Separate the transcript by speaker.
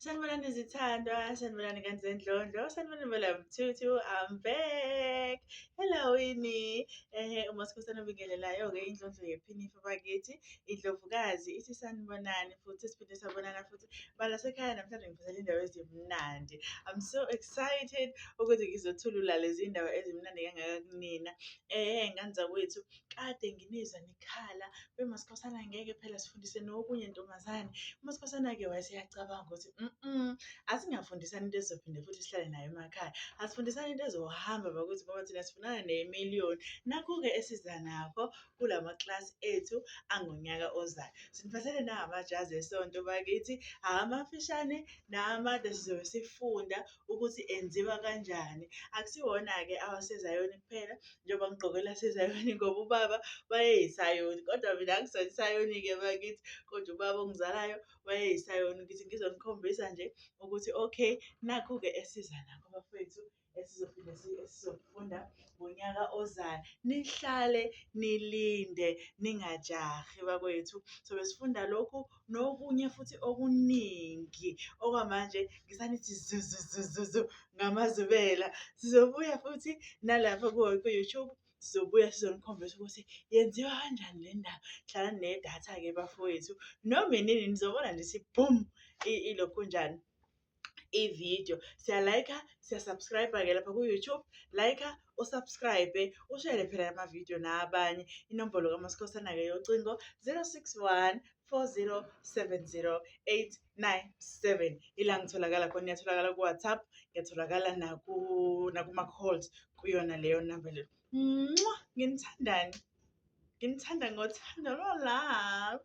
Speaker 1: Sanibonani zithandwa, sanibonani kanti zendlondlo, sanibonani belamthuthu, I'm back. Hello yini. Ehe uma sikhosana obingelelayo-ke indlondlo yephinifa bakithi, indlovukazi ithi sanibonani futhi siphinde sabonana futhi balasekhaya namhlanje ngiphathele indawo ezimnandi. I'm so excited ukuthi ngizothulula lezi ndawo ezimnandi kangaka kunina. Ehe ngani zakwethu, kade nginizwa nikhala bemasikhosana ngeke phela sifundise nokunye ntombazane umasikhosana-ke wayeseyacabanga ukuthi mm asingafundisani into ezizophinde futhi sihlale nayo emakhaya asifundisani into ezohamba bakuthi ngoba thina sifunana nemiliyoni nakho-ke esiza nakho kula maklasi ethu angonyaka ozayo siniphathele nangamajazi esonto bakithi amafishane namade sizobe sifunda ukuthi enziwa kanjani akusiwona-ke awasezayoni kuphela njengoba ngigqoke elasezayoni ngoba ubaba wayeyisayoni kodwa mina angisona isayoni-ke bakithi kodwa ubaba ongizalayo wayeyisayoni ngithi ngizonikhombisa nje ukuthi okay nakhu-ke esiza nakho bafethu esizophinde esizokufunda ngonyaka ozayo nihlale nilinde ningajahi bakwethu so besifunda lokhu nokunye futhi okuningi okwamanje ngisanithi zuzuzuzuzu ngamazubela sizobuya futhi nalapha ku-youtube sizobuya sizonikhombisa ukuthi yenziwa kanjani le ndaba hlala nedatha-ke bafowethu noma inini nizobona nje ukuthi boom ilokhu njani ividiyo siyalayikha siya-subscribe-ke lapha ku-youtube layikha usubscribe ushele phela la mavidiyo nabanye inombolo kamasikhosana-ke yocingo 061 4070897 ila ngitholakala khona ngiyatholakala ku-whatsapp ngiyatholakala nakuma-calls kuyona leyo number leyo mwa nginithandani nginithanda ngothando lolove